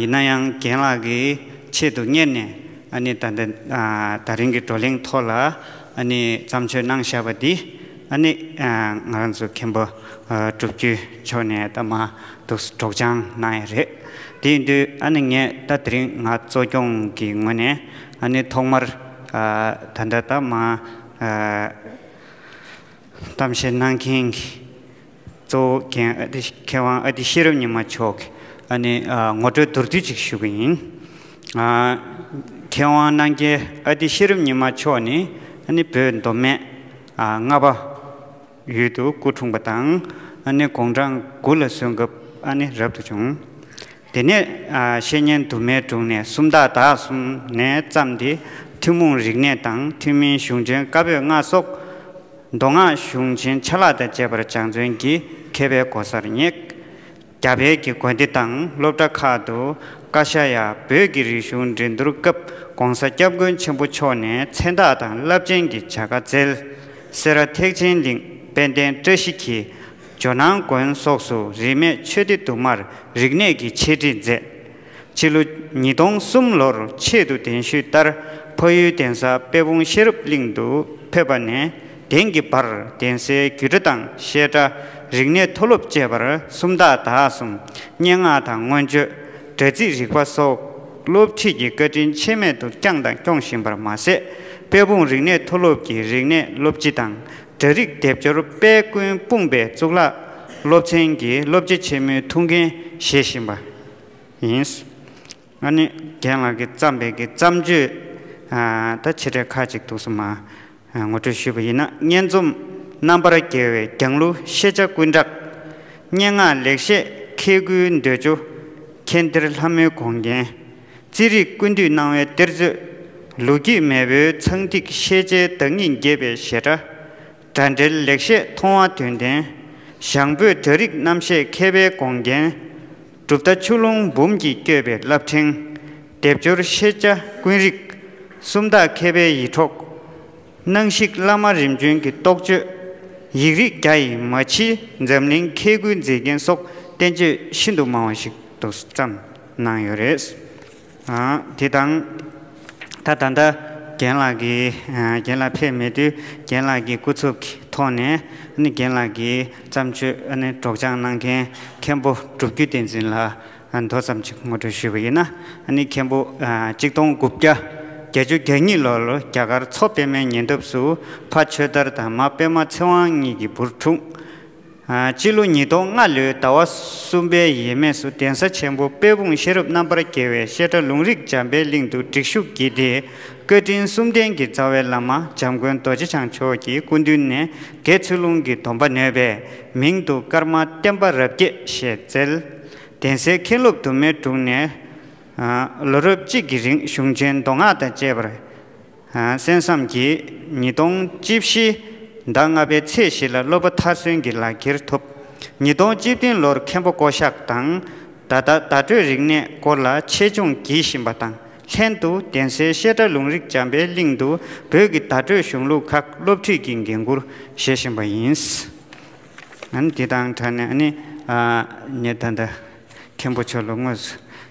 ཡིན་ན་ཡང་རྒན་ལགས་ཀྱི་ཆེད་དུ་གཉེར་ནས་ཨ་ནི་ད་ལྟ་ད་རིང་གི་བགྲོ་གླེང་ཐོག་ལ་ཨ་ནི་བརྩམས་ཆོས་གནང་བཞག་པ་འདི་ཨ་ནི་ང་རང་ཚོ་མཁན་པོ་སྒྲུབ་རྒྱུད་མཆོག་ནས་ད་མ་གཏུགས་སུ་སྒྲོགས་སྦྱང་གནང་ཡས་རེད། དེའི་དུས་ཨ་ནི་ངས་ད་དེ་རིང་ང་གཙོ་སྐྱོང་གི་ངོས་ནས་ཨ་ནི་ཐོག་མར་ད་ལྟ་ད་མ་གཏམ་བཤད་གནང་མཁན་གྱི། གཙོ་བོ་མཁན་ཨ་ཏི་མཁས་དབང་ཨ་ཏི་ཤེས་རབ་ཉི་མ་མཆོག་གིས་ཨ་ནི་ངོ་སྤྲོད་མདོར་བསྡུས་ཅིག་ཞུ་གི་ཡིན། མཁས་དབང་སྣང་རྒྱལ་ཨ་ཏི་ཤེས་རབ་ཉི་མ་མཆོག་ནི་ཨ་ནི་བོད་མདོ་སྨད་རྔ་པ་ཡུལ་དུ་སྐུ་འཁྲུངས་པ་དང་ཨ་ནི་དགུང་གྲངས་དགུ་ལ་སོན་སྐབས་ཨ་ནི་རབ་ཏུ་བྱུང། དེ་ནས་བཤེས་གཉེན་དུ་མའི་དྲུང་ནས་སུམ་རྟགས་དག་གསུམ་ནས་བརྩམས་ཏེ་ཐུན་མོང་རིག་གནས་དང་ཐུན་མིན་གཞུང་ཆེན་བཀའ་པོད་ལྔ་སོགས། མདོ་སྔགས་གཞུང་ཆེན་ཆ་ལག་དང་བཅས་པར་སྦྱངས་བརྩོན་གྱིས་མཁས་པའི་གོ་སར་བསྙེགས། རྒྱ་བལ་གྱི་དགོན་སྡེ་དང་སློབ་གྲྭ་ཁག་ཏུ་བཀའ་ཤག་ཡང་བོད་ཀྱི་རིག་གཞུང་འགྲན་བསྡུར་སྐབས ྋགོང་ས ྋསྐྱབས་མགོན་ཆེན་པོ་མཆོག་ནས་མཚན་རྟགས་དང་རླབས་ཆེན་གྱི་བྱ་དགའ་བསྩལ། སེ་ར་ཐེག་ཆེན་གླིང་དཔལ་ལྡན་བཀྲ་ཤིས་ཀྱིས། ཇོ་ནང་དགོན་སོགས་སུ་རིས་མེད་ཆོས་སྡེ་དུ་མར་རིག་གནས་ཀྱི་འཆད་ཁྲིད་མཛད། ཕྱི་ལོ་ཉིས་སྟོང་གསུམ་ལོར་ཆེད་དུ་གདན་ཞུས་ལྟར་ཕ་ཡུལ་གདན་ས་དཔལ་སྤུངས་ཤེས་རབ་གླིང་དུ་ཕེབས་པ་ནས་དེང་གི་བར་གདན་སའི་རྒྱུད་གྲྭ་དང་བཤད་གྲྭ། རིག་གནས་མཐོ་སློབ་བཅས་པར་སུམ་རྟགས་དག་གསུམ་སྙན་ངག་དང་མངོན་བརྗོད། དྲ་ཚིགས་རིག་པ་སོགས་སློབ་ཁྲིད་ཀྱི་བཀའ་དྲིན་ཆད་མེད་དུ་བསྐྱངས་དང་སྐྱོང་བཞིན་པར་མ་ཟད་དཔལ་སྤུངས་རིག་གནས་མཐོ་སློབ་ཀྱི་རིག་གནས་སློབ་སྤྱི་དང། གྲྭ་རིགས་སྡེབ་སྦྱོར་དཔལ་ཀུན་སྤུངས་པའི་གཙུག་ལག་སློབ་ཆེན་གྱི་སློབ་སྤྱི་ཆེན་མོའི་ཐུགས་འགན་བཞེས་བཞིན་པ་ཡིན། ཨ་ནི་རྒན་ལགས་ཀྱིས་བརྩམས་པའི་གི་བརྩམས་ཆོས་དང་ཆེ་གྲས་ཁག་ཅིག་འདུག་སོ་མ། ངོ་སྤྲོད་ཞུས་པ་ཡིན་ན་སྙན་རྩོམ་རྣམ་པར་རྒྱལ་བའི་རྒྱང་གླུ་ཤེས་བྱ་ཀུན་གྲགས། སྙན་ངག་ལེགས་བཤད་མཁས་དགུའི་འདོད་འཇོ། མཁྱེན་གཏེར་ལྷ་མོའི་དགོངས་རྒྱན། རྩིས་རིག་ཀུན་འདུས་སྣང་བའི་གཏེར་མཛོད། ལུགས་ཀྱི་མེས་པོའི་ཚངས་ཐིག་ཤེས་བྱའི་བདག་ཉིད་འགྱེད་པའི་བཞད་སྒྲ། སྒྲ་འགྲེལ་ལེགས་བཤད་མཐོང་བ་དོན་ལྡན། ཞང་བོད་སྒྲ་རིག་རྣམ་བཤད་མཁས་པའི་དགོངས་རྒྱན། གྲུབ་མཐའ་ཆུ་ཀླུང་འབུམ་གྱིས་བསྐྱོད་པའི་རླབས་ཕྲེང། སྡེབ་སྦྱོར་ཤེས་བྱ་ཀུན་རིག། སུམ་རྟགས་མཁས་པའི་ཡིད་འཕྲོག། སྣང་ཞིག་བླ་མ་རིམ་བྱོན་གྱི་རྟོགས་བརྗོད། ཡིག་རིགས་རྒྱ་ཡི་མ་ཕྱི་འཛམ་གླིང་མཁས་ཀུན་མཛེས་རྒྱན་སོགས་བསྟན་བཅོས་ཤིན་ཏུ་མང་བ་ཞིག་ཏུ་བརྩམས། གནང་ཡོད་རེད། དེ་དང། ད་ད་ལྟ་རྒན་ལགས་ཀྱིས་རྒན་ལགས་ཕེབས་མེད་དུས་རྒན་ལགས་ཀྱི་སྐུ་ཚབ་ཀྱི་ཐོག་ནས་རྒན་ལགས་ཀྱི་བརྩམས་ཆོས་སྒྲོགས་སྦྱང་གནང་མཁན་མཁན་པོ་སྒྲུབ་རྒྱུད་བསྟན་འཛིན་ལགས་མདོ་ཙམ་ཅིག་ངོ་སྤྲོད་ཞུས་པ་ཡིན་ན། མཁན་པོ། གཅིག་སྟོང་དགུ་བརྒྱ་བརྒྱད་ཅུ་གྱ་གཉིས་ལོར་རྒྱ་གར་མཚོ་པདྨའི་ཉེ་འདབས་སུ་ཕ་ཆོས་དར་དང་མ་པདྨ་ཚེ་དབང་གཉིས་ཀྱི་བུར་འཁྲུངས། སྤྱི་ལོ་ཉིས་སྟོང་ལྔ་ལོའི་ཟླ་བ་གསུམ་པའི་ཡས་མས་སུ་གདན་ས་ཆེན་པོ་དཔལ་སྤུངས་ཤེས་རབ་རྣམ་པར་རྒྱལ་བའི་བཤད་གྲྭ་ལུང་རིགས་འཇམ་པའི་གླིང་དུ་སྒྲིག་ཞུགས་བགྱིས་ཏེ། བཀའ་དྲིན་གསུམ་ལྡན་གྱི་རྩ་བའི་བླ་མ་འཇམ་མགོན་རྡོ་རྗེ་འཆང་མཆོག་གི་སྐུ་མདུན་ནས་དགེ་ཚུལ་ལུང་གི་སྡོམ་པ་ནོས་པས་མིང་དུ་ཀརྨ་བསྟན་པ་རབ་རྒྱས་ཞེས་བསྩལ། གདན་སའི་མཁན་སློབ་དུ་མའི་དྲུང་ནས། ལོ་རབས་གཅིག་གི་རིང་གཞུང་ཆེན་མདོ་སྔགས་དང་བཅས་པར། གསན་བསམ་གྱིས་ཉིས་སྟོང་བཅུ་བཞི་ཟླ་ལྔ་པའི་ཚེས་བཞི་ལ་སློབ་པ་མཐར་སོན་གྱི་ལག་འཁྱེར་ཐོབ། ཉིས་སྟོང་བཅུ་བདུན་ལོར་མཁན་པོ་ཀོ་ཤཱཀ་དང། བརྡ་དག་བརྡ་སྤྲོད་རིག་གནས་སྐོར་ལ་ཆེད་སྦྱོང་བགྱིད་བཞིན་པ་དང་ལྷན་དུ་གདན་སའི་བཤད་གྲྭ་ལུང་རིགས་འཇམ་པའི་གླིང་དུ་བོད་ཀྱི་བརྡ་སྤྲོད་གཞུང་ལུགས་ཁག་སློབ་ཁྲིད་ཀྱི་འགན་ཁུར་བཞེས་བཞིན་པ་ཡིན། འདི་དང་འདྲ་ནས་ནི། ཉེ་ད་ལྟ་མཁན་པོ་མཆོག་ལ་དངོས་སུ།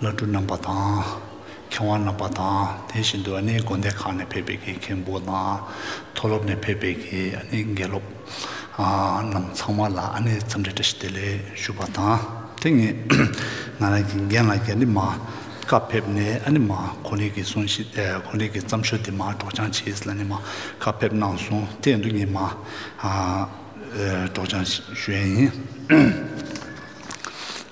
བླ་སྤྲུལ་རྣམ་པ་དང། མཁས་དབང་རྣམ་པ་དང་དེ་བཞིན་དུ་ཨ་ནེའི་དགོན་སྡེ་ཁག་ནས་ཕེབས་པའི་དགེ་རྒན་པོ་དང། མཐོ་སློབ་ནས་ཕེབས་པའི་དགེ་ནི་དགེ་སློབ། རྣམས་ཚང་མ་ལ་ཨ་ནེའི་འཚམས་འདྲི་བཀྲ་ཤིས་བདེ་ལེགས་ཞུ་བ་དང། དེ་ངས་ང་རང་གི་རྒན་ལགས་རྒྱ་ནི་མ། ཀ་ཕེབས་ནས་ཨ་ནི་མ་ཁོ་ནི་གི་གསུང་བཞིན་ཁོ་ནི་གི་བརྩམས་ཆོས་འདི་མ་སྒྲོགས་སྦྱང་བྱས་ལ་ནི་མ་ཀ་ཕེབས་གནང་སོང་དེ་འདུག་ངས་མ། སྒྲོགས་སྦྱང་ཞུ་ཡས་ཡིན།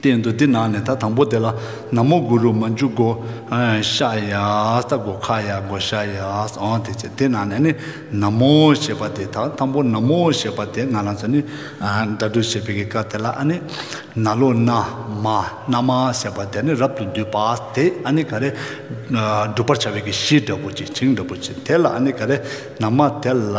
བསྟན་འདུག་འདི་ནང་ནས་ད་དང་པོ་དེ་ལ་ན་མོ་གུ་རུ་མ་འཇུག་གོ། ཤ་ཡཱས་ད་གོ་ཁ་ཡཱ་གོ་ཤ་ཡཱས་ཨོ་དེ་བྱས་དེ་ནང་ནས་ནི་ན་མོ་ཞེས་པ་དེ་དང་དང་པོ་ན་མོ་ཞེས་པ་དེ་ང་རང་ཚོ་ནི་སྒྲ་སྒྲོགས་བྱེད་པའི་སྐབས་དེ་ལ་ཨ་ནི་ན་ལོ་ན་མ་ན་མ་ཟེར་བ་དེ་ནི་རབ་ཏུ་འདུས་པ་དེ་ཨ་ནི་ག་རེ་བསྒྲུབ་པར་བྱ་བའི་གཞི་འདྲ་བོ་ཅིག་བྱིངས་འདྲ་བོ་ཅིག་དེ་ལ་ཨ་ནི་ག་རེ་ན་མ་དེ་ལ།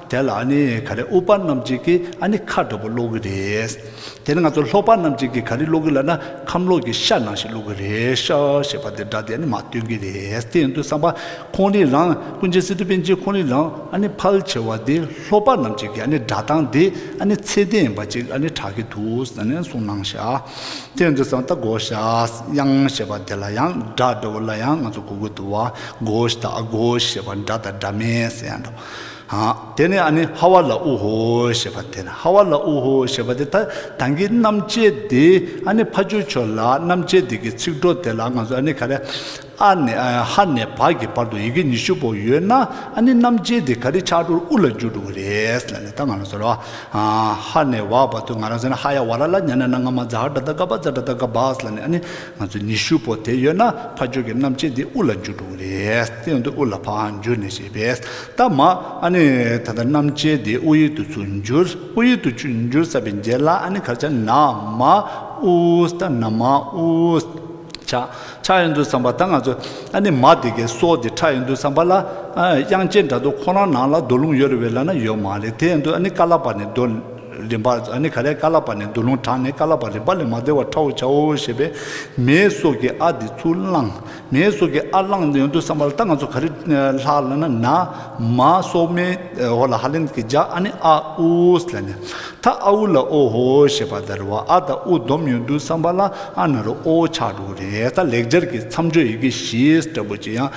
དེ་ལ་ཨ་ནི་ག་རེ་ཨུ་པ་རྣམས་ཅིག་གིས་ཨ་ནི་ཁ་དྲོ་པོ་སློག་གི་རེད། དེ་ནི་ང་ཚོ་ལྷོག་པ་རྣམས་ཅིག་གིས་ག་རེ་སློག་གི་ལབ་ན་ཁམས་ལོག་གི་ཤ་ནང་ཞིག་སློག་གི་རེད་ཤ་ཞེས་པ་འདི་འདྲ་དེ་ཨ་ནི་མ་སྟོན་གི་རེད་དེ་ཡིན་དུས་བསམ་པ་ཁོང་རིགས་རང་ཀུན་མཁྱེན་སི་ཏུ་པན་ཆེན་ཁོང་རིགས་རང་ཨ་ནི་ཕལ་ཆེ་བ་འདི་ལྷོག་པ་རྣམས་ཅིག་གིས་ཨ་ནི་སྒྲ་གདངས་འདི་ཨ་ནི་ཚད་ལྡན་ཡིན་པ་ཅིག་ཨ་ནི་གྲགས་ཀྱི་འདུག་ཟེར་ནས་གསུངས་གནང་ཤག་དེ་ཡིན་དུས་བསམ་ད་གོ་ཤག་དབྱངས་ཞེས་པ་འདི་ལ་ཡང་སྒྲ་སྒྲོ་བོ་ལ་ཡང་ང་ཚོ་གོ་གི་འདུག་བ་གོ་ཞེས་དང་ཨ་གོ་ཞེས་པ་འདྲ་དང་འདྲ་མིན་ཟེར་ཡང་འདུག། དེ་ནས་ཨ་ནི་ཧ་ཝ་ལ་ཨུ་ཧོ་ཞེས་པ་དེ་ནི་ཧ་ཝ་ལ་ཨུ་ཧོ་ཞེས་པ་དེ་ད་ཐང་གི་གནམ་ལྕེ་དེ་ཨ་ནི་ཕ་ཆོས་ཆོས་ལགས་གནམ་ལྕེ་དེ་གི་ཚིག་གྲོགས་དེ་ལ་ང་ཚོ་ཨ་ནི་ག་རེ་ཨ་ནི་ཧ་ནས་བྷ་གི་བར་དུ་ཡི་གེ་ཉི་ཤུ་པོ་ཡོད་ན་ཨ་ནི་གནམ་ལྕེ་དེ་ག་རེ་ཕྱག་དྲུག་ཨུ་ལ་འགྱུར་འགྲོ་གི་རེད་ལ་ནི་ད་ང་རང་ཚོ་ལ་ཧ་ནས་བྷ་བར་དུ་ང་རང་ཚོ་ནི་ཧ་ཡ་བྷ་ར་ལ་ཉ་ན་ན་ང་མ་ཛ་ཧ་དྲ་ད་ཀ་བྷ་ཛ་དྲ་ད་ཀ་བྷ་ལ་ནི་ཨ་ནི། ང་ཚོས་ནི་ཤུ་བོ་དེ་ཡོད་ན་ཕ་ཇོ་གི་རྣམ་ཆས་འདི་དབུ་ལ་འཇུག་འགྲོ་གི་རེད་སྟེང་དུ་དབུ་ལ་ཕའང་འཇུག་ནས་ཞེས་པས་ད་མ་ཨ་ནི་ད་ལྟ་རྣམ་ཆས་འདི་དབུ་ཡིག་ཏུ་ཚུར་འགྱུར་དབུ་ཡིག་ཏུ་ཆུ་འགྱུར་ས་པའི་རྗེས་ལ་ཨ་ནི་གར་ཆག་ན་མ་ཨུས་ད་ན་མ་ཨུས་ཆག་ཆག་ཡོད་འདུག་བསམ་པ་ད་ང་ཚོ་ཨ་ནི་མ་དེ་གའི་སྲོག་དེ་ཁྲག་ཡོད་འདུག་བསམ་པ་ལ་དབྱངས་ཅན་དྲ་ཐོག་ཁོ་རང་ནང་ལ་རྡོ་ལུང་ཡོད་རེད་བས་ལ་ན་ཡོད་མ་རེད་དེ་ཡོད་འདུག་ཨ་ནི་ཀ་ལ་པ་ནས་རྡོ། རིམ་པ་ཨ་ནི་ག་རེ་ཀ་ལ་པ་ནས་འདུ་ལོང་དྲགས་ནས་ཀ་ལ་པ་རིམ་པ་ལས་མ་བདེ་བར་ཁྲའོ་བྱའོ་ཞེས་པས་མེའི་སྲོག་གི་ཨ་དེ་ཚུར་བླངས། མེའི་སྲོག་གི་ཨ་བླངས་ཡོང་དུས་བསམ་པ་ལྟ་ང་ཚོ་ག་རེ་ལྷ་ལ་ན་ན་མ་སོགས་མེ་ཧོ་ལ་ཧ་ལན་གྱི་ལྗགས་ཨ་ནི་ཨ་ཨུས་ལ་ནི་ཐ་ཨ་ཨུ་ལ་ཨོ་ཧོ་ཞེས་པ་དར་བ་ཨ་དང་ཨུ་བསྡོམས་ཡོང་དུས་བསམ་པ་ལ་ཨ་ན་རོ་ཨོ་ཆགས་འགྲོ་གི་རེད་ད་ལེགས་སྦྱར་གྱི་མཚམས་གཅོད་ཡི་གེ་བཞི་ལྟ་བུ་ཅི་ཡང་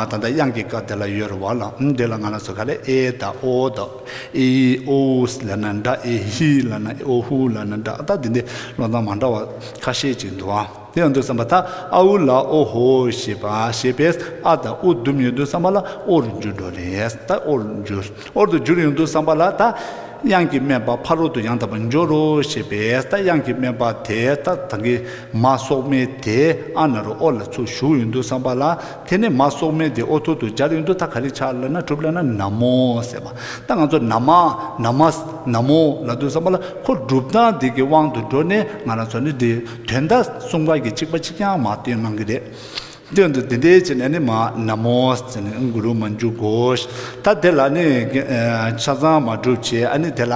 ད་ལྟ་དབྱངས་ཀྱི་སྐབས་དེ་ལ་ཡོད་རེད་བ་ལ་འདི་ལ་ང་ལ་སོ་ག་ལས་ཨེ་དང་ཨོ་དང། ཨེ་ཨི་ཨོ་ཨུ་ལ་ན་ད་ཨེ་ཧི་ལ་ན་ཨོ་ཧུ་ལ་ན་ད་ལྟ་འདི་འདྲའི་བློ་མདངས་མ་འདྲ་བ་ཁ་ཤས་ཅིག་འདུག་ཨ་དེ་ཡང་འདུག་བསམ་པ་ད་ཨ་ཨུ་ལ་ཨོ་ཧོ་ཞེས་པ་ཞེས་པས་ཨ་དང་ཨུ་བསྡུམས་ཡོད་འདུག་བསམ་པ་ལ་ཨོ་རུ་འགྱུར་འགྲོ་རེད་ད་ཨོ་རུ་འགྱུར་ཨོར་དུ་འགྱུར་ཡོང་འདུག་བསམ་པ་ལ་ད་དབྱངས་ཀྱི་སྨན་པ་ཕ་རོལ་དུ་ཡང་དག་པར་འབྱོར་རོ་ཞེས་པས་ད་དབྱངས་ཀྱི་སྨན་པ་དེས་ད་ད་གིན་མ་སོག་མེད་དེ་ཨ་ན་རུ་ཨོ་ལ་ཚུར་ཞུགས་ཡོང་འདུག་བསམ་པ་ལ། དེ་ནས་མ་སོགས་མས་དེ་ཨོ་ཐུར་དུ་སྦྱར་ཡུན་དུ་ད་ག་ལི་ཆག་ལ་ན་གྲུབ་ལ་ན་ན་མོ་ཟེར་བ་ད་ང་ཚོ་ན་མ། Namas། ན་མོ་ལ་འདུག་བསམ་པ་ལ་ཁོ་སྒྲུབ་སྟངས་དེ་གི་དབང་དུ་འགྲོ་ནས་ང་རང་ཚོ་ནི་དེ་དོན་དག་གསུང་བར་གྱི་ཆིག་པ་གཅིག་ཀྱང་མ་བཏོན་གནང་གི་རེད། དོན་དུ་དེ་འདྲའི་བྱེད་ན་ནི་མ། Namas། ཟེར་ནས་འགུ་རུ་མ་འཇུག་གོ། ད་དེ་ལ་ནི། ཆ་ཚང་མ་གྲུབ་བྱས་ཨ་ནི་དེ་ལ།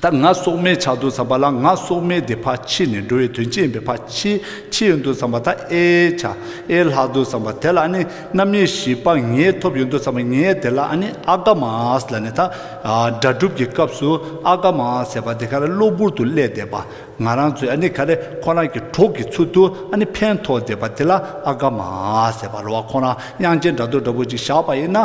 ད་ང་སྲོག་མེད་ཆགས་འདུག་བསམ་པ་ལ་ང་སྲོག་མེད་དེ་ཕ་འཆི་ནས་འགྲོ་བའི་དོན་ཅི་ཡིན་པས་ཕ་འཆི་འཆི་ཡོད་འདུག་བསམ་པ་ད་ཨེ་ཆ་ཨེ་ལྷག་འདུག་བསམ་པ་དེ་ལ་ནི་རྣམ་དབྱེ་བཞི་པ་ངས་ཐོབ་ཡོད་འདུག་བསམ་པ་ངས་དེ་ལ་ནི་ཨ་ཀ་མཱ་ཨས་ལ་ནི་ད་སྒྲ་སྒྲུབ་ཀྱི་སྐབས་སུ་ཨ་ཀ་མཱ་ཨ་ཟེར་བ་དེ་ག་རེ་གློ་བུར་དུ་བསླད་བསྡད་པ་ང་རང་ཚོས་ནི་ག་རེ་ཁོ་རང་གི་གྲོགས་ཀྱི་ཚུལ་དུ་ནི་ཕན་ཐོགས་བསྡད་པ་དེ་ལ་ཨ་ཀ་མཱ་ཨ་ཟེར་བ་རོ་བ་ཁོ་རང་དབྱངས་ཅན་སྒྲ་རྡོ་འདྲ་བོ་ཅིག་བཞག་པ་ཡིན་ན།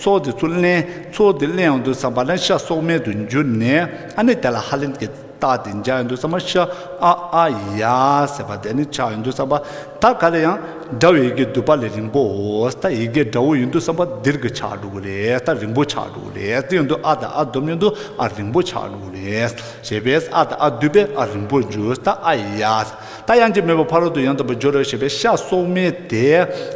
ཚོགས་དེ་ཚུར་བརླན། ཚོགས་དེ་བརླན་ཡོང་དུས་སམ་བ་ལན་ཤ་སོག་མལ་དུ་འགྱུར་ནས་ཨ་ནེ་དེ་ལ་ཧ་ལེན་གྱིས་བཏགས་ཏེ་འཇགས་ཡོང་དུས་སམ་བ་ཤ་ཨ་ཨ་ཡ་ཟེར་བ་དེ་ནི་ཆགས་ཡོང་དུས་སམ་བ་ད་ག་ལ་ཡང། སྒྲ་བའི་ཡི་གེ་བསྡུས་པ་ལས་རིང་པོ་འོས་ད་ཡི་གེ་འདྲ་བོ་ཡོང་དུས་སམ་བ་དིར་གི་ཆགས་འགྲོ་གི་རེད་ད་རིང་པོ་ཆགས་འགྲོ་གི་རེད་དེ་ཡོང་དུས་ཨ་དང་ཨ་བསྡོམས་ཡོང་དུས་ཨ་རིང་པོ་ཆགས་འགྲོ་གི་རེད་ཞེས་པས་ཨ་དང་ཨ་བསྡུས་པས་ཨ་རིང་པོར་འགྱུར་ད་ཨ་ཡ། ད་གཡང་སྐྱིད་མེད་པར་ཕ་རོལ་ཏུ་ཡང་དག་པའི་སྦྱོར་ར་བྱེད་པས་ཤ་སོག་མའི་དེ་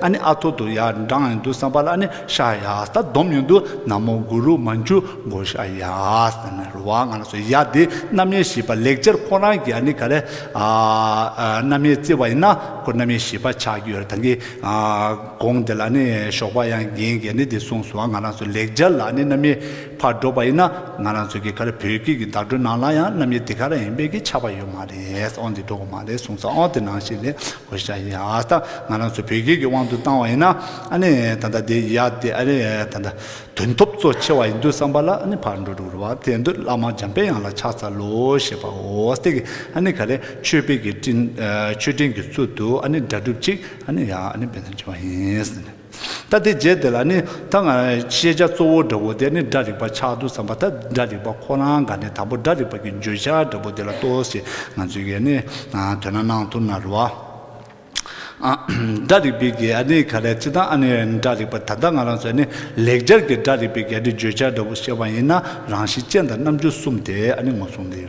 ཨ་ནི་ཨ་ཐོ་དུ་ཡ་འབྲང་ཡོན་དུ་སངས་པ་ལ་ཨ་ནི་ཤ་ཡཱས་ད་སྡོམ་ཡོན་དུ་ན་མོ་གུ་རུ་མ་མཆུ་འགོ་ཤ་ཡཱས་ཨ་ནི་རུ་བ་ང་ལ་སོགས་ཡ་དེ་རྣམ་དབྱེ་བཞི་པ་ལེགས་སྦྱར་ཁོང་རང་གིས་ཨ་ནི་ག་རེ་རྣམ་དབྱེ་བརྩི་བ་ཡིན་ན་ཁོ་རྣམ་དབྱེ་བཞི་པ་ཆགས་ཀྱི་ཡོད་རེད་ད་གིན་དགོངས་འདི་ལ་ཨ་ནི་ཞོགས་པ་གཡང་སྐྱིད་ཀྱིས་ཨ་ནི་འདི་གསུངས་སོང་བ་ང་རང་སོགས་ལེགས་སྦྱར་ལ་ཨ་ནི་རྣམ་དབྱེ་ཕར་འགྲོ་བ་ཡིན་ན་ང་རང་ཚོའི་གི་ག་རེ་བོད་སྐད་ཀྱི་བརྡ་སྤྲོད་ནང་ལ་ཡང་རྣམ་དབྱེ་དེ་ག་རེ་ཡིན་པའི་གི་ཆགས་པ་ཡོད་མ་རེད་ཨང་དེ་འགྲོ་གི་མ་རེད་གསུངས་སོང་ཨང་དེ་ནང་བཞིན་ལས་ཁོ་ཤ་ཡིན་ཨ་ད་ང་རང་ཚོ་བོད་སྐད་ཀྱི་དབང་དུ་བཏང་བ་ཡིན་ན་ཨ་ནི་ད་ལྟ་དེ་ཡིན་ཡ་དེ་ཨ་རེ་ད་ལྟ་དོན་ཐོབ་གཙོ་ཆེ་བ་ཡིན་འདུག་བསམ་པ་ལ་ཨ་ནི་ཕར་འགྲོ་འགྲོ་བ་དེ་འདུག་བླ་མ་འཇམ་དཔལ་དབྱངས་ལ་ཕྱག་འཚལ་ལོ་ཞེས་པ་འོ་སྟེ་གི་ཨ་ནི་ག་རེ་ཆོས་དཔེ་གི་སྤྲིན་ཆོས་སྤྲིན་གྱི་ཚུལ་དུ་ཨ་ནི་སྒྲ་སྒྲུབ་ཅིག་ཨ་ནི་ཡ་ཨ་ནི་དཔེ་མཚོན་བྱེད་པ་ཡིན། ད་དེ་རྗེས་དེ་ལ་ནི་ད་ང་ཤེས་བྱ་གཙོ་བོ་འདྲ་བོ་དེ་ནི་སྒྲ་རིག་པ་ཆགས་འདུག་བསམ་པ་ད་སྒྲ་རིག་པ་ཁོ་རང་ག་ནས་དང་པོ་སྒྲ་རིག་པ་གི་བརྗོད་བྱ་འདྲ་བོ་དེ་ལ་ལྟོས་ཞེས་ང་ཚོས་ཀྱི་ནི་དོན་ན་སྣང་ཐུབ་ན་རུང། སྒྲ་རིག་པའི་ག་ནི་ག་ལས་ཅི་ལྟར་ཨ་ནི་སྒྲ་རིག་པ་ད་ལྟ་ང་རང་ཚོས་ནི་ལེགས་སྦྱར་གྱི་སྒྲ་རིག་པའི་ག་ནི་བརྗོད་བྱ་འདྲ་བོ་ཤེས་པ་ཡིན་ན་རང་བཞིན་ཅན་དང་རྣམ་འགྱུར་གསུམ་དེ་ཨ་ནི་ངོ་བསྲུང་ལེ།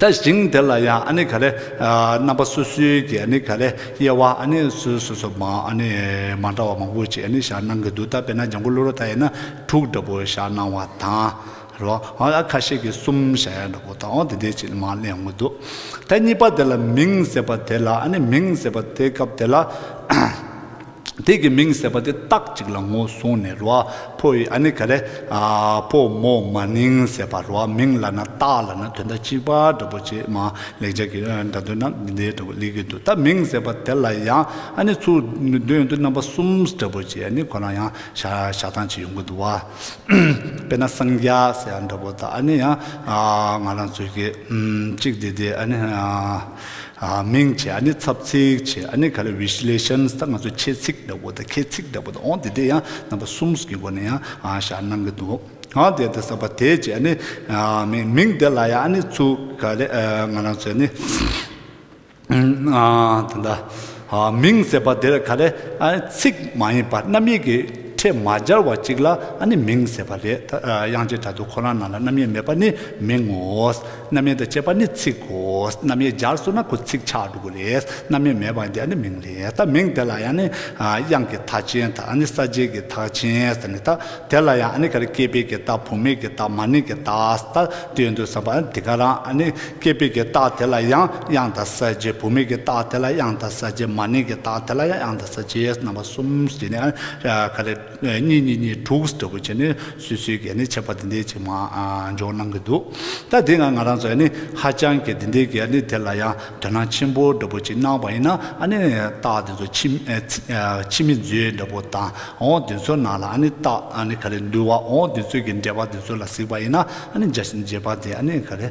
ད་ཞིང་དེ་ལ་ཡང་ཨ་ནི་ག་ལེ་རྣམ་པ་སོ་སོའི་གི་ཨ་ནི་ག་ལེ་དབྱེ་བ་ཨ་ནི་སོ་སོ་སོ་ཨ་ནི་མ་འདྲ་བ་མང་པོ་ཅིག་ཨ་ནི་བཞག་གནང་གི་འདུག་ད་དཔེར་ན་ལྗང་ཁུ་ལུ་རོ་དག་ཡིན་ན་དྲུག་འདྲ་པོ་བཞག་གནང་བ་དང། རོ་ཨ་ཁ་ཤས་ཀྱིས་གསུམ་བཞག་ཡ་འདྲ་པོ་དང་འོ་དེ་འདྲའི་ཅིག་མང་གླེང་ཡོང་གི་འདུག་ད་གཉིས་པ་དེ་ལ་མིང་ཟེར་བ་དེ་ལ་ཨ་ནི་མིང་ཟེར་བ་དེ་སྐབས་དེ་ལ། དེ་གི་མིང་ཟེར་བ་དེ་སྟག་ཅིག་ལ་ངོ་བཟུང་ནས་རོ་ཨ་ཕོ་ཡི་ཨ་ནི་ག་རེ། ཨ་ཕོ་མོ་མ་ནིང་ཟེར་བ་རོ་ཨ་མིང་ལ་ན་སྟག་ལ་ན་དོན་དག་གཅིག་པ་འདྲ་པོ་ཆེ་མ་ལེགས་སྦྱར་གི་སྒྲ་དོན་ན་འདི་འདྲ་པོ་ལེགས་ཀྱི་འདུག་ད་མིང་ཟེར་བ་དེ་ལ་ཡང་ཨ་ནི་ཚུར་འདོན་དུ་རྣམ་པ་གསུམ་འདྲ་པོ་ཆེ་ཨ་ནི་ཁོ་རང་ཡང་བཞག་སྟངས་ཅིག་ཡོང་གི་འདུག་བ། དཔེར་ན་སངས་རྒྱ་ཟེར་བ་འདྲ་པོ་ད་ཨ་ནི་ཡང་ང་རང་ཚོའི་གི་གཅིག་འདི་དེ་ཨ་ནི། མིང་བྱས་ཨ་ནི་ཚབ་ཚིག་བྱས་ཨ་ནི་ག་ལ Visualizations དང་ང་ཚོ་ཁྱད་ཚིག་འདྲ་བོ་དང་ཁྱད་ཚིག་འདྲ་བོ་དང་འོང་དེ་དེ་ཡང་རྣམ་པ་གསུམ་གྱི་སྒོ་ནས་ཡང་ཞར་སྣང་གི་འདུག་ཨང་དེ་ལྟར་ས་པ་དེ་བྱས་ཨ་ནི་མིང་དེ་ལ་ཡང་ཨ་ནི་ཚུགས་ག་ལས་ང་རང་ཚོས་ཨ་ནི་དེ་འདྲ། མིང་ཟེར་བ་དེར་ག་ལེ་ཚིག་མ་ཡིན་པར་རྣམ་དབྱེ་གི་ཕྲད་མ་སྦྱར་བ་ཅིག་ལ་ནི་མིང་ཟེར་བ་རེད། དབྱངས་ཅན་དྲ་དུ་ཁོ་རང་རྣམས་ལ་རྣམ་དབྱེ་མེད་པ་ནི་མིང་ངོ། རྣམ་དབྱེ་དང་བཅས་པ་ནི་ཚིག་གོ། རྣམ་དབྱེ་སྦྱར་སོང་ན་ཁོ་ཚིག་ཆགས་འགྲོ་གི་རེད། རྣམ་དབྱེ་མེད་པ་འདི་ནི་མིང་རེད། ད་མིང་དེ་ལ་ཡང་ནི་དབྱངས་ཀྱི་མཐའ་ཅན་དང་ནི་ས་བཅད་ཀྱི་མཐའ་ཅན་ཟེར་ནས་ད་དེ་ལ་ཡང་ནི་ག་ལེ་སྐྱེས་པའི་གི་ད་བུད་མེད་ཀྱི་ད་མ་ནིང་གི་ད་ལྟོས་འདུག་བསམ་པ་ནི་དེ་ག་རང་ནི། སྐྱེས་པའི་གི་རྟགས་དེ་ལ་ཡང་དབྱངས་དང་གསལ་བྱེད་བུད་མེད་ཀྱི་རྟགས་དེ་ལ་ཡང་དང་གསལ་བྱེད་མ་ནིང་གི་རྟགས་དེ་ལ་ཡང་དབྱངས་དང་གསལ་བྱེད་རྣམ་པ་གསུམ་ཞེས་ནི་ག་རེ། གཉིས་གཉིས་གཉིས་དྲུག་ཟེར་བུ་བྱས་ནས་སུས་སུས་ཀྱིས་ནི་འཆད་པ་འདི་འདྲའི་ཅིག་མ་འཇོག་གནང་གི་འདུག་ད་དེ་ང་ང་རང་ཚོས་ནི་ཧ་ཅང་གི་འདི་འདྲའི་གི་ནི་དེ་ལ་ཡང་དོན་སྣང་ཆེན་པོ་འདྲ་བུ་ཅིག་གནང་བ་ཡིན་ན་ཨ་ནི་རྟགས་འདི་ཚོ་ཕྱི་ཕྱི་མི་མཛོད་འདྲ་བུ་དང་འོ་འདི་ཚོ་ནང་ལ་ཨ་ནི་རྟགས་ཨ་ནི་ག་རེ་འདུལ་བ་འོ་འདི་ཚོས་གི་འགྲེལ་པ་འདི་ཚོ་ལ་གཟིགས་པ་ཡིན་ན་ཨ་ནི་འཇལ་བྱེད་འཇལ་བ་དེ་ཨ་ནི་ག་རེ།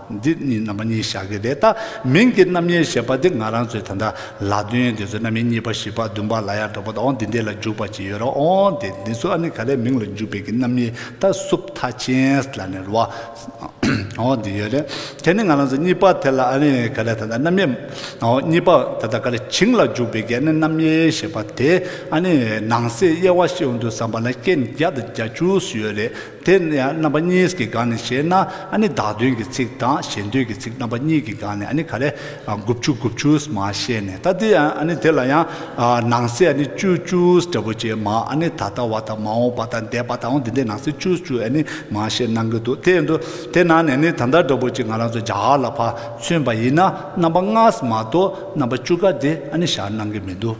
འདི་གཉིས་རྣམ་པ་གཉིས་བཞག་གི་རེད་ད། མིང་གི་རྣམ་དབྱེ་ཞེས་པ་འདི་ང་རང་ཚོའི་ད་ལྟ་ལ་དོན་དེ་ཚོའི་རྣམ་དབྱེ་གཉིས་པ་བཞི་པ་བདུན་པ་ལ་ཡང་འགྲོ་པ་དང་འདི་འདི་ལ་འཇུག་པ་ཅི་ཡོད་རང་ཨོང་དེ་འདི་ཚོ་ཨ་ནི་ག་ལས་མིང་ལ་འཇུག་པའི་གི་རྣམ་དབྱེ་ད་སུབ་མཐའ་ཅན་ལ་ནི་རོ་ཨོང་འདི་ཡོད་རེད་དེ་ནི་ང་རང་ཚོ་གཉིས་པ་དེ་ལ་ཨ་ནི་ག་ལས་ད་ལྟ་རྣམ་དབྱེ་ཨོ་གཉིས་པ་ད་ལྟ་ག་ལས་བྱིངས་ལ་འཇུག་པའི་གི་ཨ་ནི་རྣམ་དབྱེ་ཞེས་པ་དེ་ཨ་ནི་ནང་གསེས་དབྱེ་བ་ཤེས་འོང་དུས་བསམ་པ་ན་རྐྱེན་བརྒྱ་དང་གྱ་བཅུ་སུ་ཡོད་རེད། དེ་ཡང་རྣམ་པ་གཉིས་ཀྱི་སྒང་ནས་བཤད་ན་ཨ་ནི་བདག་མདུན་གྱི་ཚིག་དང་གཞན་མདུན་གྱི་ཚིག་རྣམ་པ་གཉིས་ཀྱི་སྒང་ནས་ཨ་ནི་ག་རེ་དགུ་བཅུ་དགུ་བཅུས་མ་བཤད་ནས་ད་དེ་ཡང་ཨ་ནི་དེ་ལ་ཡང་ནང་གསེས་ཨ་ནི་བཅུ་བཅུས་འབྲས་བུ་ཅན་མ་ཨ་ནི་ད་ལྟ་བ་དང་མ་འོངས་པ་དང་འདས་པ་དང་འོང་དེ་འདྲའི་ནང་གསེས་བཅུ་བཅུས་ཨ་ནི་མ་བཤད་གནང་གི་འདུག་དེ་འདུག་དེ་ནང་ནས་ནི་ད་ལྟ་འདྲ་པོ་ཅིག་ང་རང་ཚོ་རྒྱ་གར་ལ་ཕར་ཚུན་པ་ཡིན་ན་རྣམ་པ་ལྔས་མ་གཏོགས་རྣམ་པ་བཅུ་ཀ་དེ་ཨ་ནི་བཞག་གནང་གི་མི་འདུག།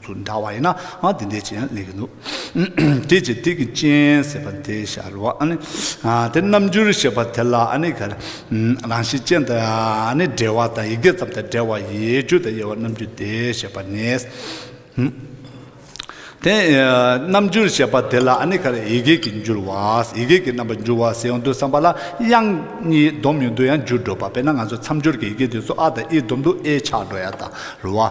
ཚུར་འདྲ་བ་ཡིན་ན་འང་དེ་འདྲའི་ཅི་ཡང་ལེགས་ཀྱི་འདུག་དེ་ཅི་སྟེ་ཀྱི་སྤྱན་ཟེར་བ་དེ་ཤར་བ་ཨ་ནི། དེ་རྣམ་འགྱུར་ཞེས་པ་དེ་ལ་ཨ་ནི་གར། རང་བཞིན་ཅན་དང་ཨ་ནི་འབྲེལ་བ་དང་ཡི་གེ་ཙམ་དང་བྲལ་བ་ཡི་རྒྱུ་དང་དབྱེ་བ་རྣམ་འགྱུར་དེ་ཞེས་པ་ནི། དེ་རྣམ་འགྱུར་ཞེས་པ་དེ་ལ་ཨ་ནི་གར་ཡི་གེ་ཀྱི་འགྱུར་བ་ཡི་གེ་ཀྱི་རྣམ་པར་འགྱུར་བ་ཟེར་ཡོང་དུས་བསམ་པ་ལ་དབྱངས་གཉིས་སྡོམ་ཡོང་དུས་ཡང་འགྱུར་འགྲོ་བ་དཔེར་ན་ང་ཚོ་མཚམས་སྦྱོར་གྱི་ཡི་གེ་དེ་ཚོ་ཨ་དང་ཨིའི་སྡོམ་དུ་ཨེ་ཆགས་འགྲོ་ཡ་དང་རུ་བ།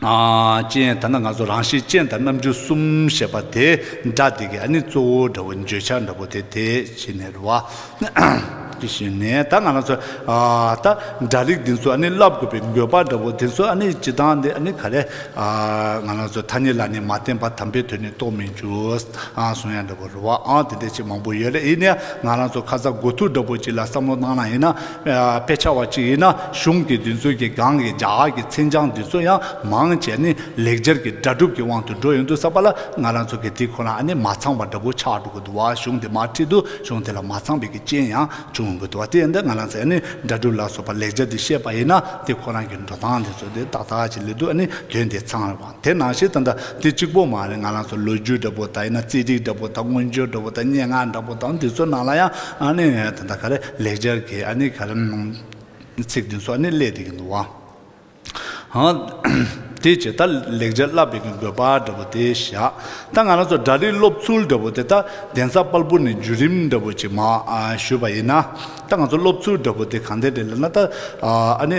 ཅན་ད་ནི་ང་ཚོ་རང་གཤིས་ཅན་དང་རྣམ་འགྱུར་གསུམ་ཞེས་པ་དེ་འདྲ་དེ་ག་ནི་གཙོ་བོ་འདྲ་བོ་འགྱོད་ཆགས་འདྲ་བོ་དེ་དེ་བྱེད་ནས་རུ་བ། དེ་བྱེད་ནས་ད་ང་ཚོ་ད་འདྲ་རིགས་འདི་ཚོ་ནི་བསླབ་དགོས་པའི་འགྱོད་པ་འདྲ་བོ་དེ་ཚོ་ནི་བྱེད་སྟངས་འདི་ནི་ག་རེ་ང་རང་ཚོ་ཐ་སྙད་ལ་ནི་མ་བརྟེན་པར་དམ་པའི་དོན་ནི་རྟོགས་མི་འགྱུར་སོང་ཡང་འདྲ་བོ་རུ་བ་དེ་འདྲ་ཅིག་མང་པོ་ཡོད་རེད་ཡིན་ནའང་ང་རང་ཚོ་ཁ་ཚ་དགོས་ཐུག་འདྲ་བོ་ཅིག་ལ་བསམ་བློ་བཏང་ན་ཡིན་ན། དཔེ་ཆ་བ་གཅིག་ཡིན་ན་གཞུང་དེའི་བདུན་ཚུལ་གྱི་སྒང་གི་རྒྱ་གར་གྱི་མཚན་བྱང་འདི་ཚོ་ཡང་མང་ཆེ་ནི་ལེགས་སྦྱར་གྱི་སྒྲ་སྒྲུབ་ཀྱི་དབང་དུ་འགྲོ་ཡོང་དུས་བསམ་པ་ལ་ང་རང་ཚོ་གི་དེ་ཁོ་ན་ཨ་ནི་མ་ཚང་བ་འདྲ་པོ་ཆགས་འགྲོ་གི་འདུག་བ་གཞུང་དེ་མ་ཁྲིད་དུས་གཞུང་དེ་ལ་མ་ཚང་བའི་གི་རྐྱེན་ཡང་བྱུང་ཡོང་གི་འདུག་བ་དེ་ཡིན་དུས་ང་རང་ཚོས་ཨ་ནི་སྒྲ་སྒྲུབ་ལ་སོགས་པ་ལེགས་སྦྱར་འདི་ཤེས་པ་ཡིན་ན་དེ་ཁོ་རང་གི་འགྲོ་སྟངས་འདི་ཚོ་དེ་ཏག་ཏག་ཅིག་ལེ་འདུག་ཨ་ནི་དོན་དེ་ཚང་རེད་བ། དེ་ནང་བཞིན་ད་ལྟ་དེ་གཅིག་པོ་མ་རེད་ང་རང་ཚོ་ལོ་རྒྱུས་འདྲ་པོ་དང་ཡིན་ན་རྩེད་སྒྲིག་འདྲ་པོ་དང་མངོན་བརྗོད་འདྲ་པོ་དང་སྙན་ངག་འདྲ་པོ་དང་དེ་ཚོའི་ནང་ལ་ཡང་ཨ་ནི་ད་ལྟ་ག་རེ་ལེགས་སྦྱར་གྱི་ཨ་ནི་ག་རེ་ཚིག་དེ་ཚོ་ཨ་ནི་བསླད་བསྡད་ཀྱི་འདུག་ཨང། དེ་ཇི་ལྟར་ལེགས་སྦྱར་བསླབ་པའི་དགོས་པ་འདྲ་པོ་དེ་བཞག་ད་ང་རང་ཚོ་འདྲ་རིས་སློབ་ཚུལ་འདྲ་པོ་དེ་ད་གདན་ས་དཔལ་སྤུར་ནས་བརྒྱུད་རིམ་འདྲ་པོ་ཅིག་མ་ཞུས་པ་ཡིན་ན་ད་ང་ཚོ་སློབ་ཚུལ་འདྲ་པོ་དེ་གང་འདེད་རེད་ལབ་ན་ད་ཨ་ནི།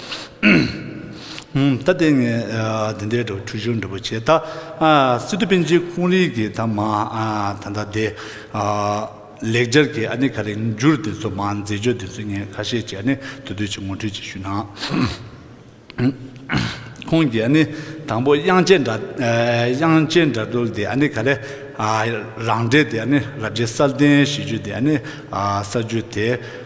ད་ལྟའི་ངས་འདི་འདྲའི་འབྲུ་ཆུང་ཆུང་འདྲ་པོ་བྱས་ད། སི་ཏུ་པིན་ཅིའི་ཁོང་རིགས་ཀྱི་ད་མ་ད་ལྟ་དེ། ལེགས་སྦྱར་གྱི་ཨ་ནི་ག་རེ་འགྱུར་དེ་ཚོ་མ་མཛེས་ལྗོགས་དེ་ཚོ་ངས་ཁ་ཤས་ཀྱིས་ཨ་ནི་དུ་དུས་ཀྱིས་ངོ་སྤྲོད་ཅིག་ཞུས་ན། ཁོང་གིས་ཨ་ནི་དང་པོ་དབྱངས་ཅན་སྒྲ་དབྱངས་ཅན་སྒྲ་སྒྲོགས་དེ་ཨ་ནི་ག་རེ། རང་འགྲེལ་དེ་ཨ་ནི་རབ་རྒྱས་གསར་བསྟན་ཞེས་བརྗོད་དེ་ཨ་ནི་གསར་བརྗོད་དེ།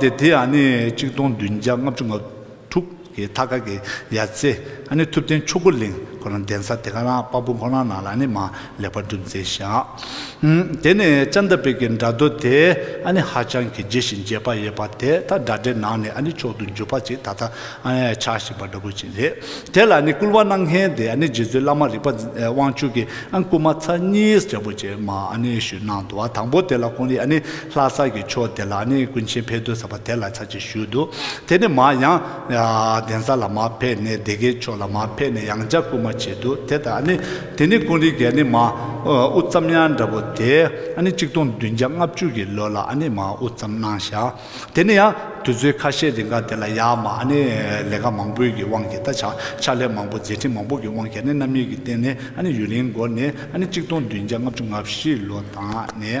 དེ་དེ་ཡང་ནི་གཅིག་སྟོང་བདུན་བརྒྱ་ལྔ་བཅུ་ང་དྲུག་གི་མཐའ་ཁ་གི་ཡར་ཚེ་ཨ་ནི་ཐུབ་བསྟན་ཆོས་འཁོར་གླིང་ཁོ་ན་གདན་ས་དེ་ག་རང་དཔའ་བོ་ཁོ་ན་ནང་ལ་ནི་མ་ལེགས་པར་སྒྲུབ་མཛད་ཞིང། དེ་ནས་ལྕགས་མདའ་དཔལ་གྱི་འདྲ་རྡོ་དེ་ཨ་ནི་ཧ་ཅང་གི་རྒྱས་ཤིང་རྒྱས་པ་ཡོད་པ་དེ་དག་འདྲ་འདྲའི་ནང་ནས་ཨ་ནི་མཆོག་ཏུ་གྱུར་པ་ཅིག་ད་ལྟ་ཨ་ནི་ཆགས་བཞིན་པ་འདྲ་བོ་ཅིག་རེད། དེ་ལ་ནི་བསྐུལ་བ་གནང་མཁན་དེ་ཨ་ནི་རྗེ་བཙུན་བླ་མ་རིག་པ་དབང་ཕྱུག་གི་ཨ་ནི་བསྐུལ་མ་ཚར་གཉིས་འདྲ་བོ་ཅིག་མ་ཨ་ནི་ཞུས་གནང་འདུག་བ་དང་པོ་དེ་ལ་ཁོང་གིས་ཨ་ནི། ལྷ་ས་ཀྱི་ཕྱོགས་དེ་ལ་ནི་ཀུན་མཁྱེན་ཕས་དུར་ས་པ་དེ་ལ་ཚར་གཅིག་བཞུགས་འདུག་དེ་ནས་མར་ཡང། གདན་ས་ལ་མར་ཕེབས་ནས་སྡེ་དགེའི་ཕྱོགས་ལ་མར་ཕེབས་ནས་ཡང་འཇའ་སྐུ་མ་བྱས་འདུག་དེ་ལྟར་ནི། དེ་ནས་ཀུན་རིག་གལ་ནི་མ་དབུ་བརྩམས་ཡ་འདྲ་བོ་དེ། གཅིག་སྟོང་བདུན་བརྒྱ་ལྔ་བཅུ་གྱི་ལོ་ལ་ནི་མ་དབུ་བརྩམས་སྣང་ཤ། དེ་ནས་ཡང་དུས་ཚོད་ཁ་ཤས་རིང་ག་དེ་ལ་ཡང་མ་ནི་ལས་ཀ་མང་པོའི་གི་དབང་གིས་ད་ཆ་ཕྱག་ལས་མང་པོ་མཛད་འཕྲིན་མང་པོ་གི་དབང་གིས་ནི་རྣམ་གཡེང་གི་སྟེང་ནས་ཡུན་རིང་འགོར་ནས་གཅིག་སྟོང་བདུན་བརྒྱ་ལྔ་བཅུ་ང་བཞི་ལོ་དང་ནི།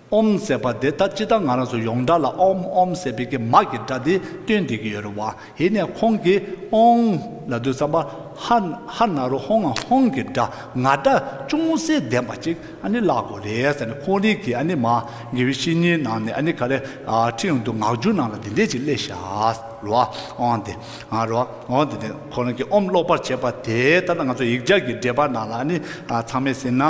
ཨོམ་ཟེར་བ་དེ་ད་ཅི་ད་ང་རང་ཚོ་ཡོངས་གྲགས་ལ་ཨོམ་ཨོམ་ཟེར་བས་ཀྱི་མ་ཀྱི་སྒྲ་དེ་སྟོན་བསྡད་ཀྱི་ཡོད་རེད་བ་ཧེ་ནས་ཁོང་གིས་ཨོང། ལ་དུས་ཙམ་པ་ཧ་ཧ་ན་རུ་ཧོང་ང་ཧོང་གི་སྒྲ་ང་སྒྲ་ཅུང་ཟད་ལྡན་པ་ཅིག་ཨ་ནི་བཀླག་དགོས་རེད་ཟེར་ནས་ཁོང་རིགས་ཀྱིས་ཨ་ནི་མ་ངེས་པའི་བཤེས་གཉེན་ནང་ནས་ཨ་ནི་ག་རེ་ཁྲིད་ཡོང་འདུག་ངག་རྒྱུན་ནང་ལ་དེ་འད་ཅིག་གླེ་ཤ་རུ་ཨོང་དེ་ཨ་རུ་ཨོང་དེ་དེ་ཁོ་རང་གིས་ཨོམ་ཀློག་པར་བྱེད་པ་དེ་ད་ལྟ་ང་ཚོ་ཡིག་སྦྱར་གྱི་འགྲེལ་པ་ནང་ལ་ཨ་ནི་ཚང་མས་ཟིན་ན།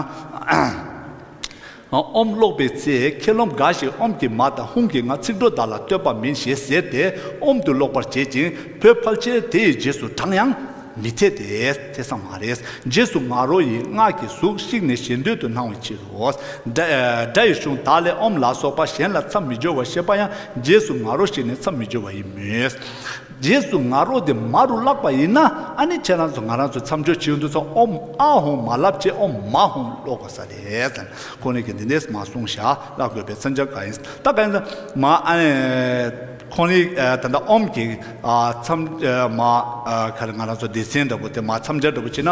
ཨོམ་ཀློག་པའི་ཚེ་མཁས་རློམ་འགའ་ཞིག་ཨོམ་གྱི་མ་དང་ཧུང་གི་ང་ཚིག་འགྲོ་དག་ལ་ལྟོས་པ་མིན་ཞེས་ཟེར་ཏེ་ཨོམ་དུ་ཀློག་པར་བྱེད་ཅིང་བོད་ཕལ་ཆེར་དེ་ཡི་རྗེས་སུ་འབྲངས་ཡང། མི་འཐད་དེ། འཐད་ས་མ་རེད། རྗེས་སུ་ང་རོ་ཡི་སྔགས་ཀྱི་གཟུགས་བཤིག་ནས་ཞེ་འདོད་དུ་སྣང་བའི་ཕྱིར་རོ། སྒྲ་ཡི་གཞུང་དག་ལས་ཨོམ་ལ་སོགས་པ་གཞན་ལ་མཚམས་མི་སྦྱོར་བར་བཤད་པ་ཡང་རྗེས་སུ་ང་རོ་ཞེས་ནས་མཚམས་མི་སྦྱོར་བ་ཡིན་མོད། རྗེས་སུ་ང་རོ་དེ་མ་རུ་བརླག་པ་ཡིན་ན་ཨ་ནི་ཁྱེད་རང་ཚོ་ང་རང་ཚོ་མཚམས་སྦྱོར་བྱེད་འདུག་ཚ་ཨོ་མ་ཨ་ཧོང་མ་ལབ་ཅེས་ཨོ་མ་ཧོང་ཀློག་དགོས་ས་རེད། ཁོང་ལེགས་ཀྱི་འདི་འདས་སུ་མ་སོང་ཞག་བཀླག་དགོས་པའི་མཚམས་སྦྱར་ག་ཡིན་ད་ག་ཡིན། མ་ཨ་ནི་ཁོང་ལེགས་ད་ལྟ་ཨོམ་གྱི་མཚམས་མ་ཁར་ང་རང་ཚོ་སྡེ་ཚན་འདྲ་པོ་དེ་མ་མཚམས་སྦྱར་འདྲ་པོ་བྱེད་ན།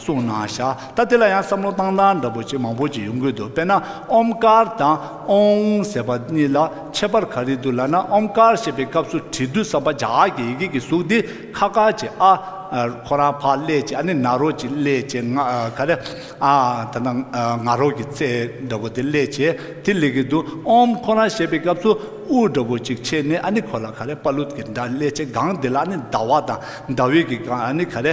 གསུངས་ན་བཞག་ད་དེ་ལ་ཡང་བསམ་བློ་བཏང་སྟངས་འདྲ་པོ་ཅིག་མང་པོ་ཅིག་ཡོང་གི་འདུག་དཔེར་ན་ཨོམ་དཀར་དང་ཨོང་ཟེར་བ་གཉིས་ལ་ཁྱད་པར་ག་རེ་འདུག་ལབ་ན་ཨོམ་དཀར་ཞེས་པའི་སྐབས་སུ་དྲིལ་བསྡུ་བསམ་པ་བྱ་ཨ་ཀྱི་ཡི་གེ་ཀྱི་གཟུགས་དེ་ཁ་དཀར་ཅིག་ཨ། ཁོ་རང་ཕག་ཀླད་ཅིག་ཨ་ནི་ནག་རོག་ཅིག་ཀླད་ཅེས་ང་ག་རེ་ཨ། ད་ནང་ནག་རོག་གི་རྩེ་འདྲ་པོ་དེ་ཀླད་ཅེས་དེ་ལེགས་ཀྱི་འདུག་ཨོམ་ཁོ་རང་ཞེས་པའི་སྐབས་སུ་ཨུ་འདྲ་པོ་ཅིག་ཕྱེས་ནས་ཨ་ནི་ཁོ་ལ་ག་རེ་པ་ལུད་ཀྱི་འདྲ་ཀླད་ཅེས་སྒང་དེ་ལ་ཨ་ནི་ཟླ་བ་དང་ཟླ་འོད་ཀྱི་སྒང་ཨ་ནི་ག་རེ་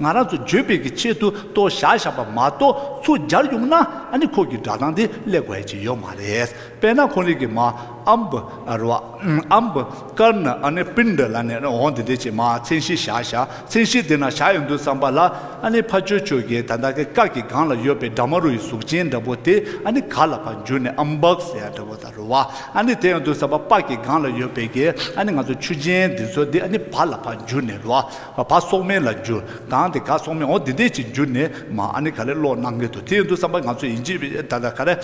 ང་རང་ཚོ་འགྱོད་སྤེལ་གྱི་ཆེད་དུ་ལྟོ་བཞག་བཞག་པ་མ་གཏོགས་ཚུར་སྦྱར་ཡོང་ན་ཨ་ནི་ཁོག་གི་སྒྲ་གདངས་དེ་ཀླད་གོ་ཨེ་བྱེད་ཡོད་མ་རེད་དཔེར་ན་ཁོང་རིགས་ཀྱི་མ་ཨམ་བུ་རུ་བ་ཨམ་བུ་དཀར་ནི་ཨ་ནི་པིན་དུ་ལ་ནས་འོང་དེ་འདྲས་ཀྱི་མ་མཚན་གཞི་བཞག་བཞག་མཚན་གཞི་དེ་ན་བཞག་ཡོང་དུས་བསམ་པ་ལ་ཨ་ནི་ཕ་ཆོས་ཆོས་ཀྱི་ད་ད་གི་སྐག་གི་སྒང་ལ་ཡོད་པའི་སྦྲ་མ་རུ་ཡི་གཟུགས་ཅན་འདྲ་པོ་དེ་ཨ་ནི་ག་ལ་བར་འགྱུར་ནས་ཨམ་བག་ཟེར་ཡ་འདྲ་པོ་དང་རུ་བ་ཨ་ནི་དེ་ཡོང་དུས་བསམ་པ་པགས་ཀྱི་སྒང་ལ་ཡོད་པའི་གི་ཨ་ནི་ང་ཚོ་ཆུ་ཆེན་འདི་ཚོ་འདི་ཨ་ནི་བར་ལ་བར་འགྱུར་ནས་རུ་བ། བ་སོག་མེ་ལ་འགྱུར། གང་དེ་ག་སོག་མེ་འོ་དེ་འདས་ཅིག་འགྱུར་ནས་མ་ཨ་ནི་ག་ལེ་ཀློག་གནང་གི་འདུག་དེ་ཡིན་དུ་བསམ་པ་ང་ཚོ་ཡིན་གཅིག་ད་ད་ག་རེ།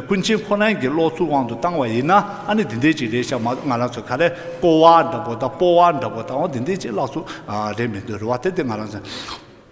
ཀུན་མཁྱེན་ཁོ་རང་གི་ཀློག་ཚུལ་དབང་དུ་བཏང་བ་ཡིན་ན་ཨ་ནི་དེ་འདས་ཅིག་རེད་ཤག་མ་ང་རང་ཚོ་ག་རེ་ཀོ་བ་འདྲ་པོ་དང་སྤོ་བ་འདྲ་པོ་དང་འོ་དེ་འདས་ཅིག་བཀླག་ཚུལ་རེད་མི་འདུག་རེ་བ་དེ་དེ་ང་རང་ཚོ།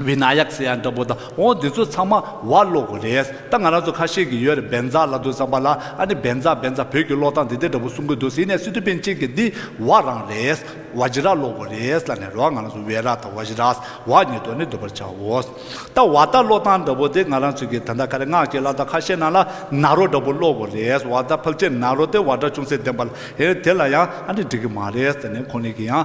བི་ན་ཡཀ་སི་ཡ་འདྲ་པོ་དང་འོ་འདི་ཚོ་ཚང་མ་བ་ཀློག་གོ་རེད་ད་ང་རང་ཚོ་ཁ་ཤས་ཀྱི་ཡོད་རེད་འབན་རྫ་ལ་འདུག་བསམ་པ་ལ་ཨ་ནི་འབན་རྫ་འབན་རྫ་བོད་ཀྱི་ཀློག་སྟངས་འདི་འདི་འདྲ་པོ་གསུང་གི་འདུག་ཟེར་ནས་སི་ཏུ་པན་ཅན་གྱི་འདི་བ་རང་རེད་བ་ཇི་ར་ཀློག་གོ་རེད་ལ་ནི་ར་བ་ང་རང་ཚོ་བེ་ར་དང་བ་ཇི་ར་བ་གཉིས་དོ་ནི་འདུག་པར་བྱའོ། ད་བ་ད་ཀློག་སྟངས་འདྲ་པོ་དེ་ང་རང་ཚོ་གི་ད་ད་ཁ་རེ་སྔགས་ཀྱི་བླ་དྭགས་ཁ་ཤས་ནང་ལ་ན་རོ་འདྲ་པོ་ཀློག་གོ་རེད་བ་ད་ཕག་ཆེ་ན་རོ་དེ་བ་སྒྲ་ཅུང་ཟད་ལྡན་པ་ལ་ཨེ་རེད་དེ་ལ་ཡང་ཨ་ནི་འགྲིག་གི་མ་རེད་ཟེར་ནས་ཁོང་གཉིས་ཀྱི་ཡང།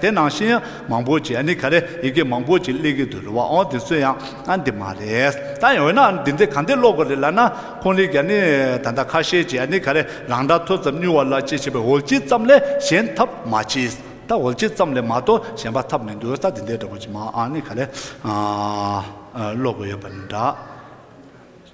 དེ་ནང་བཞིན་ཡང་མང་པོ་བྱས་ནི་ག་རེ་ཡི་གེ་མང་པོ་ཅིག་གླེགས་ཀྱི་དུ་རུ་བའང་དེ་ཚོ་ཡང་འདི་མ་རེད་ད་ཡིན་འོ་ན་འདི་འདི་ག་འདི་ཀློག་དགོས་རེད་ལབ་ན་ཁོང་ལི་རྒྱ་ནི་ད་ལྟ་ཁ་ཤས་བྱས་ནི་ག་རེ་རང་འདྲ་ཐོས་ཙམ་སྨྱུ་བ་ལ་ཅི་བྱས་པའི་འོལ་སྤྱི་ཙམ་ལས་གཞན་ཐབས་མ་མཆིས་ད་འོལ་སྤྱི་ཙམ་ལས་མ་གཏོགས་གཞན་པ་ཐབས་མི་འདུག་ད་འདི་འདྲའི་འདྲ་པོ་ཅིག་མ་ནི་ག་རེ་ཀློག་དགོས་ཡོད་པ་འདྲ།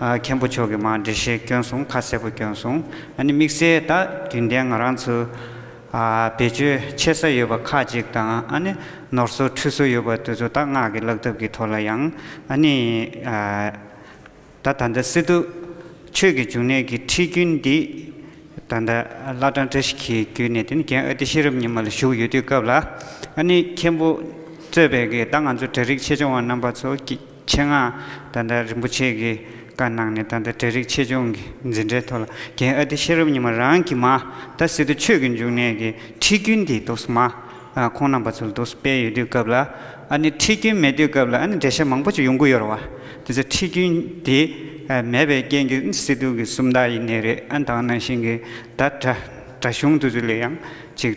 མཁན་པོ་མཆོག་གིས་མ་འདྲི་ཞེས་སྐྱོན་སྲུང་ཁ་གསལ་པོ་སྐྱོན་སྲུང་ཨ་ནི་དམིགས་བསལ་དག་རྒྱུན་ལྡན་ང་རང་ཚོའི་བེད་སྤྱོད་ཆེ་ས་ཡོད་པ་ཁག་ཅིག་དང་ཨ་ནི་ནོར་སོ་འཁྲུལ་སོ་ཡོད་པ་དེ་ཚོ་དག་སྔགས་ཀྱི་བཀླག་ཐབས་ཀྱི་ཐོག་ལ་ཡང་ཨ་ནི་ད་ད་ལྟ་སི་ཏུ་ཆོས་ཀྱི་འབྱུང་གནས་ཀྱི་ཁྲིད་རྒྱུན་འདི་ད་ལྟ་བླ་བྲང་བཀྲ་ཤིས་འཁྱིལ་བརྒྱུད་ནས་དེ་ནི་རྒན་ཨ་ཏི་ཤེས་རབ་ཉི་མ་ལ་བཞུགས་ཡོད་དུས་སྐབས་ལ་ཨ་ནི་མཁན་པོ་གཙོས་པའི་ད་ང་ཚོ་གྲྭ་རིགས་ཆེ་ཆུང་བ་རྣམ་པ་ཚོ་ཆེད་མངགས་ཏཱ་ཏཱ་རིན་པོ་ཆེ་གིས་བཀའ་གནང་ནས་ད་ལྟ་གྲལ་རིགས་ཆེད་སྦྱོང་གི་འཛིན་གྲྭའི་ཐོག་ལ་རྒན་ཨ་ཏི་ཤེས་རབ་ཉི་མ་རང་གིས་མ་ད་སི་ཏུ་ཆོས་ཀྱི་འབྱུང་གནས་ཀྱི་ཁྲིད་རྒྱུན་འདི་དུག་སུ་མ་ཁོང་རྣམ་པ་ཚོ་ལ་དུག་སུ་སྤེལ་ཡོད་དུས་སྐབས་ལ་ཨ་ནི་ཁྲིད་རྒྱུན་མེད་དུས་སྐབས་ལ་ཨ་ནི་འགྲེལ་བཤད་མང་པོ་ཅིག་ཡོང་གི་ཡོད་རེད་བ། དེ་ཚོ་ཁྲིད་རྒྱུན་དེ་མེད་པའི་རྐྱེན་གྱི་ཨ་ནི་སི་ཏུ་གི་སུམ་རྟགས་ཡིན་ནི་རེད་ཨ་ནི་ད་བར་ནང་བཞིན་གྱི་ད་དྲ་གཞུང་དུ་ཚོ་ལས་ཡང་ཅིག།